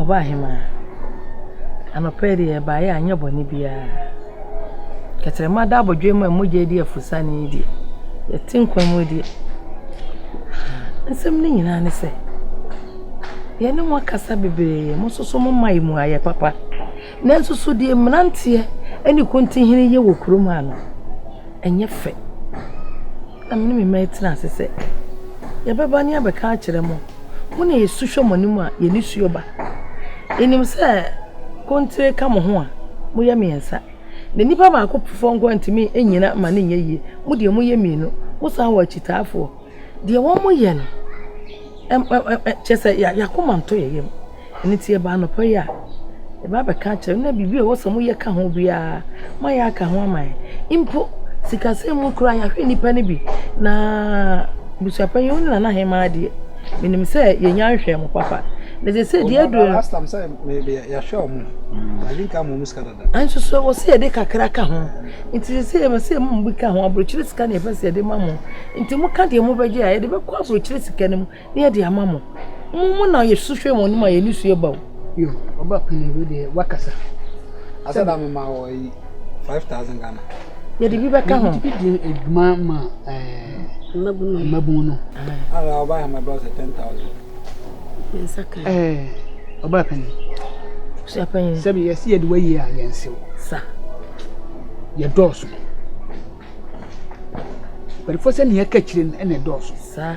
Ɔbaahemaa, anɔpa yi deɛ baeɛ a anyɛ bɔne biara. Tɛkyerɛma da abodwowa mu a mogya redi afurasiane yi deɛ, yɛte nkwa mu deɛ. Asɛm no nyinaa ne sɛ, yɛne mo akasa bebree, mo nso momma yɛn mu ayɛ papa. Nanso so deɛ mmeranteɛ ne kontihene yɛ wɔ kurom ha no, ɛnyɛ fɛ? Na me ne me mma atena ase sɛ, Yɛbɛba ne abɛka akyerɛ mo, mo na yɛsu hwɛ mo anim a, yɛn nisuo ba. Yɛnim sɛ kontire ka mo ho a, moyɛ mmiɛnsa, na nipa baako foforɔ nko ara ntumi nnyina mma no nyɛ yie. Mo deɛ, moyɛ mmienu, mosan wɔ akyitaafoɔ. Deɛ wɔyɛ no, kyerɛ sɛ, yɛn akoma ntɔ yɛn yam. Ɛno nti yɛba anɔpa yi a, yɛba abɛka akyerɛ na biribi a ɛwɔ sɛ moyɛ ka ho biara, moayɛ aka ho ama yɛn. Mpo sikasɛm mu koraa yɛahwɛ nnipa no bi, na abusuapanyin wo ne Nana Hemaa deɛ, menim sɛ yɛnya nhwɛɛ mo papa. Na sɛ sɛ deɛ aduro no. Nanso so ɛwɔ sɛ yɛde kakra ka ho. Nti sɛ sɛ yɛbɛ sɛ mo bi ka ho aburokyire sika na yɛpɛ sɛ yɛde ma mo. Nti moka deɛ mobɛgye a yɛde bɛkɔ aburokyire sika no mu. Yɛ de ama mo. Mo mu na Yesu hwɛ wɔn anim a yɛn nisuo ba o. Yo, ɔba panin wei deɛ wakasa. Asa da me ma wɔ yi five thousand Ghana. Yɛ de bi bɛ ka ho. Yɛ de edwuma ma ɛɛ mmabun no. Ara ɔba yɛ ma bɛ ɔsɛ ten thousand. Yɛn nsa kan. Ɛɛ ɔba panin. Sua panin. Sɛbi yɛ si yɛ de wɔ yie a yɛn sew. Sa. Yɛ dɔɔso. Bɛrifo sɛ nea ɛka kyerɛ no ɛna ɛdɔɔso. Sa.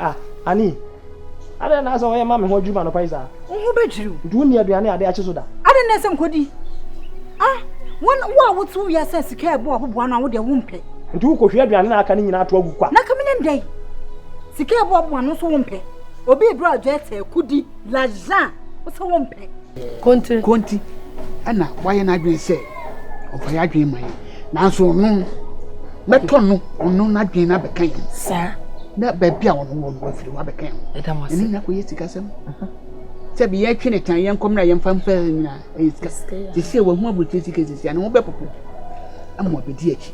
Ah, Annie, adɛn na asɛ wɔyɛ ma me ho adwiri m'anɔpa yi saa? Wo ho bɛdwiri wo. Nti wonni aduane a ade akye so da? Adɛn na ɛsɛ nkɔdi? Ah, wo a wote wo wiase a sika a ɛbɔ aboboa no a wodeɛ wompɛ. Nti wokɔhwie aduane no a aka no nyinaa to agu kwa? Na ka menim dɛn? Sika a ɛbɔ aboboa no nso wompɛ. Obi eduru adwa ɛsɛ, kudi, lajan, wosɛ wompɛ. Konti. Konti ɛna wayɛ n'adwene sɛ ɔfa yɛ adwene ma yɛ nanso ɔno mɛtɔ no ɔno n'adwene no abɛka yɛn saa na baabi a ɔno wɔ no wafiri hɔ abɛka yɛn ɛne nyina kɔyɛ sikasɛm sɛ bi yɛtwe ne tan yɛnkɔm na yɛmfa mfa nyina ɛyɛ sika sɛsɛ wahu aburokyerɛ sika sɛsɛ ano ho bɛpopo ama ɔbɛdi akyi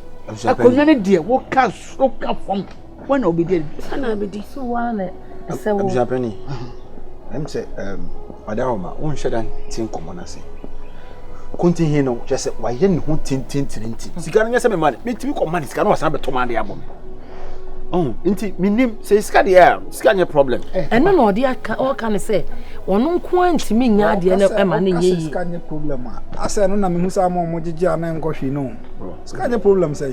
akonnwa no deɛ woka so ka fam Wọn na obedi ɛdi. Wọn na obedi. So wọn na ɛsɛ wo. Abusuapɛni, ɛm sɛ ɔda hɔ ma wonhyɛ da nti nkɔmmɔ no ase. Kontinhi no kyerɛ sɛ wayɛ ne ho tententiri nti sika no nyɛ sɛ mema no metumi kɔma ne sika no wasan bɛtɔ ma de abɔ me. Oh, nti menim sɛ sika deɛ a sika nyɛ problem. Ɛno na ɔde aka ɔka ne sɛ ɔno nko ara ntumi nya adeɛ no ɛma ne nyɛ yie. Sika nyɛ problem a asɛ ɛno na mehu sɛ ama ɔmo gyegye a na nkɔhwee no. Sika nyɛ problem sɛ.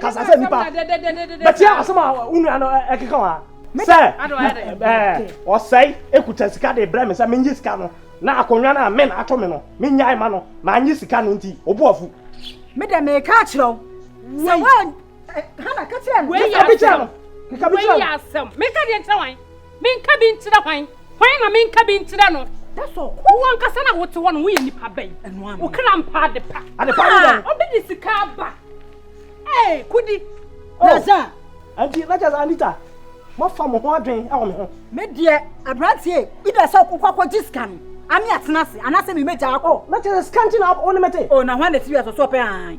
kasa sɛ nipa bɛti asɛm a wo nua no ɛkeka wa sɛ ɔsɛe ekuta sika de brɛ me sɛ menye sika no na akonnwa no a men ato me no menyae ma no manye sika no nti obu afu me dɛ meka akyerɛ wo sɛ wo hana ka kyerɛ no meka bi kyerɛ no meka bi kyerɛ no meka deɛ nkyerɛ wan Menka bi nkyerɛ hwan? Hwan na menka bi nkyerɛ no? Wo ankasa na wote hɔ no woyɛ nipa bɛn? Wo kra mpa ade pa. Ade pa ne dɛn? Obi de sika aba. Ee, kudi. Naza. Anti, na kyerɛ sɛ Anita, moafa mo ho adwen wɔ me ho. Me deɛ, aberanteɛ, either sɛ wokɔ akɔgye sika no, ame atena ase, anaasɛ memɛgyaa kɔ. Na kyerɛ sɛ sika nti na wo ne me te? O, na hwan na ɛsi wiase so ɔpɛ hann?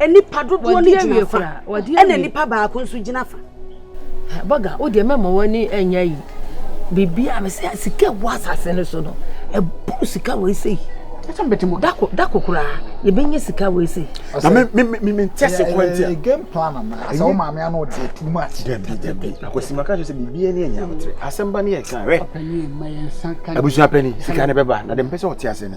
Nnipa dodoɔ no gyina fa ɛna nnipa baako nso gyina fa. Baga o deɛ mɛma w'ani ɛnyɛ yi biribi a mesɛ sika ɛwɔ asase no so no ɛboro sika wɔ ɛsɛ yi da kokora yɛbɛnya sika wɔ ɛsɛ yi. mentɛ se kwan ntia game plan ana asɛ wo maame ano deɛ too much dabi dabi akwasima ka kyerɛ sɛ biribiɛ ne ɛnya wotere asɛm ba ne yɛka wɛ abusua pani sika ne bɛba na de mpɛ sɛ ɔte ase ne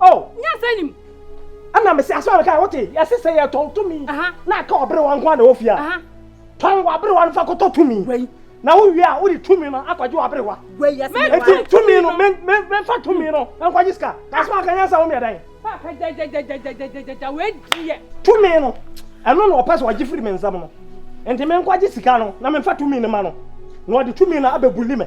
Oh. Nyansa nim. Ɛna mese asɛm a meka wote yɛse sɛ yɛtɔn tumi na aka ɔberewa nko a na ɛwɔ fie a tɔn w'aberewa no fa kɔtɔ tumi na wowie a wode tumi no akɔgye w'aberewa nti tumi no memfa tumi no nkɔgye sika asɛm aka nyansa wo meɛdan tumi no ɛno na ɔpɛ sɛ ɔgye firi me nsɛm no nti menkɔgye sika no na memfa tumi no ma no na ɔde tumi no abɛbuli me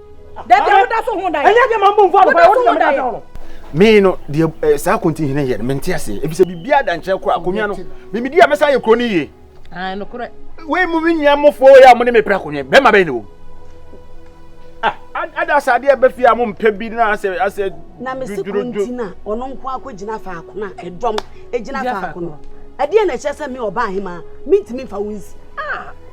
dabi a woda so ho da yɛ ɛnyɛ deɛ ma mbɔ nfu anɔpa woda so ho da yɛ me no deɛ ɛɛ eh, saa konti hene yɛ no mente ase ebisɛ biribi adankyerɛ kora akonnwa no mimidi a mɛsan yɛ kuro no yie ah, wei mu me nua mofoɔ yɛ a mo ne me pere akonnwa bɛrima bɛyɛ ne wɔ ah, ada sɛ adeɛ bɛfi a mompɛ bi na asɛ asɛ na mese konti no a ɔno nko akɔgyina faako no a ɛdɔm ɛgyina faako no ɛdeɛ na ɛkyɛ sɛ me ɔba ahema mentumi mfa wo nsi ah.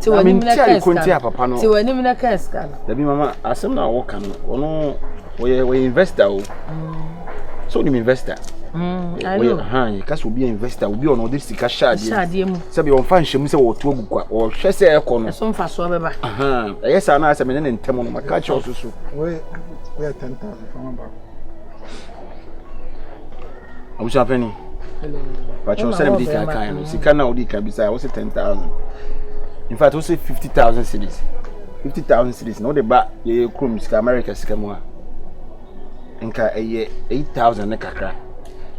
Te w'anim na ka sika no. Te w'anim na ka sika no. Dabi mama asɛm na wo ka no ɔno wɔyɛ wɔyɛ investor o. Mm. So nim investor. Mm, I know. Ha yɛ kasi obi investor obi ɔno ɔde sika hyɛ adeɛ. Hyɛ adeɛ mu. Sɛbi ɔnfa nhyɛ mu sɛ wɔto agu kwa ɔhwɛ sɛ ɛkɔ no. Ɛso nfa so ɔbɛba. Ɛyɛ saa na asɛm ne ne ntɛm no ma ka kyerɛ ɔsoso. Wɔyɛ wɔyɛ tɛntɛn fama ba. abusua panyin patrɔ sɛ ɛdi kan kan no sika na ɔdi kan bisa ɔsɛ ten thousand in fact ɔsɛ fifty thousand series fifty thousand series na ɔde ba yɛyɛ kurom sika america sika mu a nka ɛyɛ eight thousand ne kakra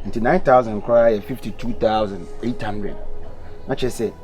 nti nine thousand koraa yɛ fifty two thousand eight hundred na kyerɛ sɛ.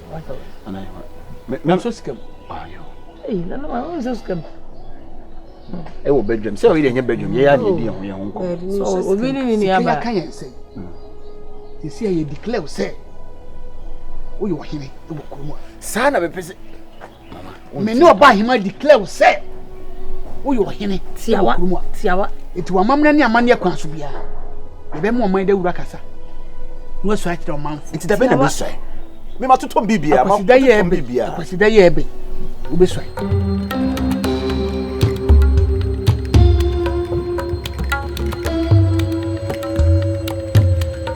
nanso sika mu ɛwɔ bedwam sɛ ɔyɛ ɛnyɛ bedwam yɛyɛ adeɛ di ɛho yɛ ho nkɔ obi ne ne nuaba ka yɛn sɛ ɛsi a yɛ declare sɛ woyɛ ɔhene wɔ kurom a saa na bɛpɛ sɛ me ne ɔba ahema declare sɛ woyɛ ɔhene wɔ kurom a tiawa nti wamamena ne amanneɛ kwan so biara yɛbɛma ɔman dawura kasa na wasua akyerɛ ɔmanfo nti dabɛ na bɛsua me matotɔ bibia akwasida yɛ ɛbɛ akwasida yɛ ɛbɛ wobɛsua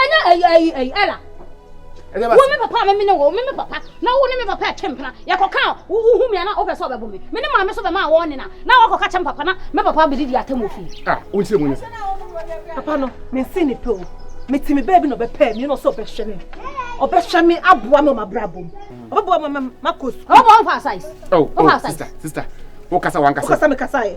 ɛnyɛ ɛyi ɛyi ɛyi ɛla wo me papa me ne wo me me papa na wo ne me papa ɛtwe mpena yɛkɔka wohu me ana wopɛ sɛ ɔbɛbo me me ne maame so bɛma wɔne na na wakɔka kyɛ me papa na me papa bɛdidi atɛm wɔ fie ah, wonkyerɛ mu nyɛ sɛ papa no mense ne pɛ o mete me baabi na ɔbɛpɛɛ me na ɔsɛ ɔbɛhwɛ me ɔbɛhwɛ me aboa me ɔmabrabɔ mu ɔbɛboa me makɔ sukuu ɔbɛboa wo fa size oh, oh sister sister wokasa wankasa wokasa mekasa yɛ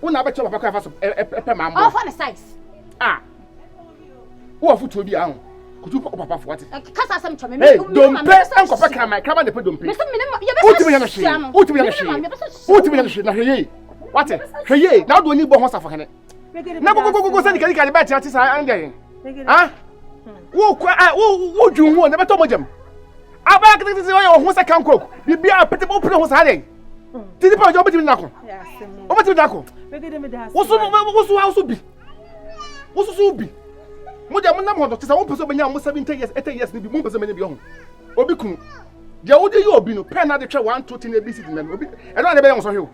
Wo na abɛkyɛ papa kwan fa so pɛ ma mboa. Ɔfa ne size. Ah. Wo afutuo bi ahun. Kutu pɛ papa fo wate. Kasa asɛm kyɛ me. Hey, dompe nkɔfɛ kraman, kraman de pɛ dompe. Mesɛ me ne ma yɛbɛsɛ. Wotumi yɛ no hwee. Wotumi yɛ no hwee. Wotumi yɛ no hwee na hwɛ yie. Wate, hwɛ yie na ɔde oni bɔ ho safo hene. Na gogogogo sɛ nika nika de bɛɛ te saa ɛndɛ. Ah? Wo kwa, wo wo dwun ho na bɛtɔ mo gyam. Abala kete kete ɔyɛ ɔho sɛ kanko. Bibi a pete o pete ho saa dɛn. Ti nipa ɔjɔ ɔbɛtumi nako. Ɔbɛtumi nako. Woso woso wa woso bi. Woso so bi. Mo deɛ mo nam hɔ no te sɛ wɔn pɛ sɛ ɔbɛnya mo seventy years eighty years ni bi mo pɛ sɛ ɔbɛnya bi ɔho. Obi kunu. Deɛ wode yɛ obi no pɛn na de twɛ one two ten abc di mɛm obi ɛno ade bɛyɛ wɔn sɔhwe o.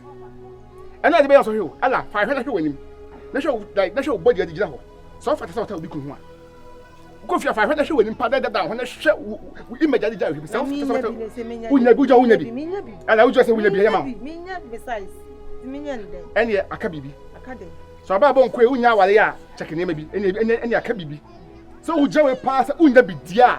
Ɛno ade bɛyɛ wɔn sɔhwe o. Ɛla fa ahwɛ na hwɛ wɔn anim. Na hwɛ wo na hwɛ wo bɔdi adi gyina hɔ. Sɛ ɔfa te sɛ ɔta obi kunu ho a. kɔ fie afa hwɛ hwɛ w'anim pa dɛdɛ da ho na hwɛ wo image adi gya ahwɛ mu sɛ wosɛ wonya bi wogya wonya bi ɛna wogya sɛ wonya bi ɛyɛ ma ɛneɛ aka biribi sɛ ɔbaa bɔ nkoe wonya aware a kyɛke nneɛma bi ɛne aka biribi sɛ wogya wei paa sɛ wonya bi di a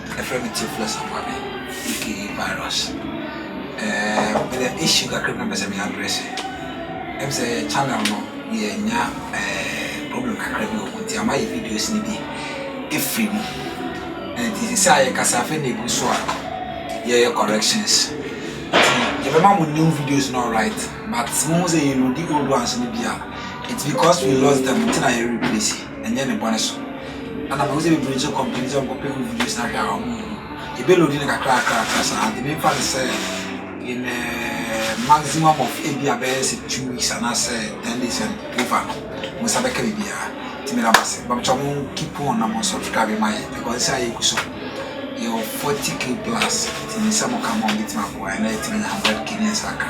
Yɛfrɛ no Typhloid Sambabe, aka virus. Ɛɛm, menya issue kakra bi na mepɛ sɛ me address. Ɛm sɛ yɛ channel no, yɛanya ɛɛm problem kakra bi wɔ mu nti ama yɛ videos no bi afiri mu. Ɛnti sisi a yɛkasa afei na egu so a yɛyɛ corrections. Nti yɛbɛma mo new videos no alright, but mohu sɛ yɛ loadi old ones no bi a, it's because we lost them nti na yɛ replace. ɛnyɛ ne bɔne so ɛna mahu sɛ bebree gye kɔmpani sɛ wɔnkɔpɛ wo videos no ahwɛ a wɔn nhu yɛbɛ load no kakrakrakra saa nti mefa no sɛ in a maximum of ebi a bɛyɛ sɛ two weeks anaasɛ ten days and over no mo nsa bɛka biribiara nti meda mo ase bamkyɛ mo keep on na mo subscribe ma yɛ because sɛ ayɛ gu so yɛwɔ 40k plus nti sɛ mo ka ma wɔbɛtumi aboa ɛna yɛtumi anya 100k ne yɛnsa ka